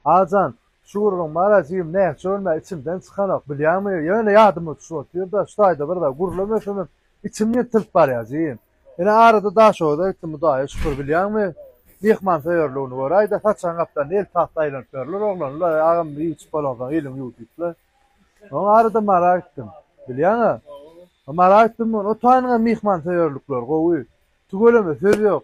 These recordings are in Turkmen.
Ajan, Şugurlygyň mala jigim nähili görme, içimden çykanok, bilýäňmi, ýöne ýadyma düşüp otyrda, şu taýda bir zat gürleme ösemem, içim ýyrtylyp barýar jigim. Ine arada Daşoguza gitdim Hudaýa şükür, bilýäňmi, myhmansöýerligini göräý-de, saçan gaplarynda el tagt aýlanyp ýörler, oglanlar, agam biçip bolagsaň iliň ýuw diýipler. Soň arada Mara gitdim. Bilýäň-ä, Mara gitdim, o taýynyň hem myhmansöýerlikleri gowy. Tüweleme söz ýok.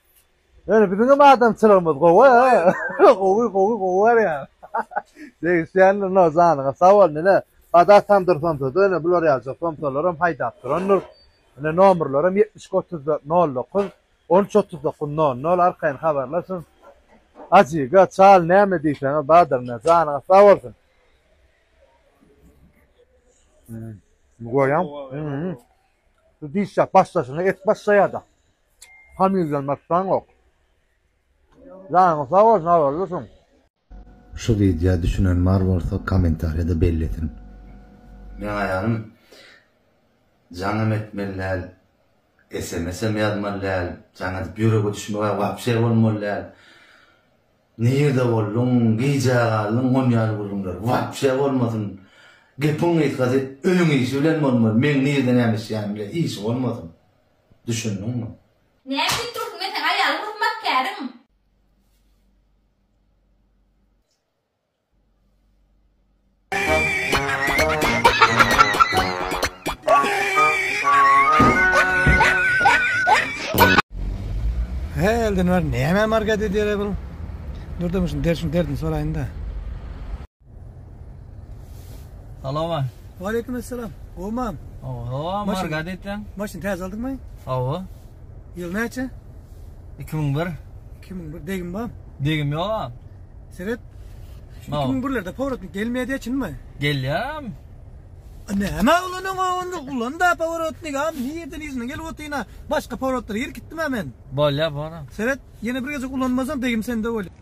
Ýöne biziňem adamçylygymyz gowy a. Gowy gowy gowy barýar. Degişýändir no janyňa sag bol nene. Bada tamdyr somsada ýöne bular ýaljak somsalaram haýdap durandyr. Ine nomerlerim ýetmiş iki otuz dört nol dokuz on üç otuz dokuz nol nol arkaýyn habarlaşyň. Ajiga çal näme diýseňiz bardyr nä janyňyz sag bolsun. Goýaň. Şu diş ýap başdaşyna et başlaýada. Familýany atsaňok. Janyň sag bolsun habarlysyň. Şu widýa düşünen bar bolsa komentariýada bellesin. Meň aýalym jaň hem etmeli däl sms hem ýazmaly däl jaň edip ýürege düşmegä wapşe bolmaly däl nirde bolduň gijä galdyň gon ýaly gürrüňler wapşe bolmasyn gepiň gysgasy öýüň işi bilen bolmaly meň nirde näme işleýänimi bile işi bolmasyn. Düşündiňmi? Näme diýip dursuň, men seň aýalyň hyzmatkäriň. He Eldinwar näme margat edýär-ä bul? Dur-da, muny derdini soraýyn-da. Salama. Waleýkim assalam. Gowmam. Oho, marga diýseň. Maşyn täze aldyňmy? Hawa. Ýyl näçe? 2001. 2001 degim bar. Degim ýok. Seret. 2001-lerde powrotnik gelmeýär çynmy? Gelýär. Näme ulanyň onda ulan da powrotnik am nirden ýüzüne gelip otyna başga powrotlar ýer gitdim men. Bolýar bana. Seret ýene bir gezek ulanmasaň degim sende bolýar.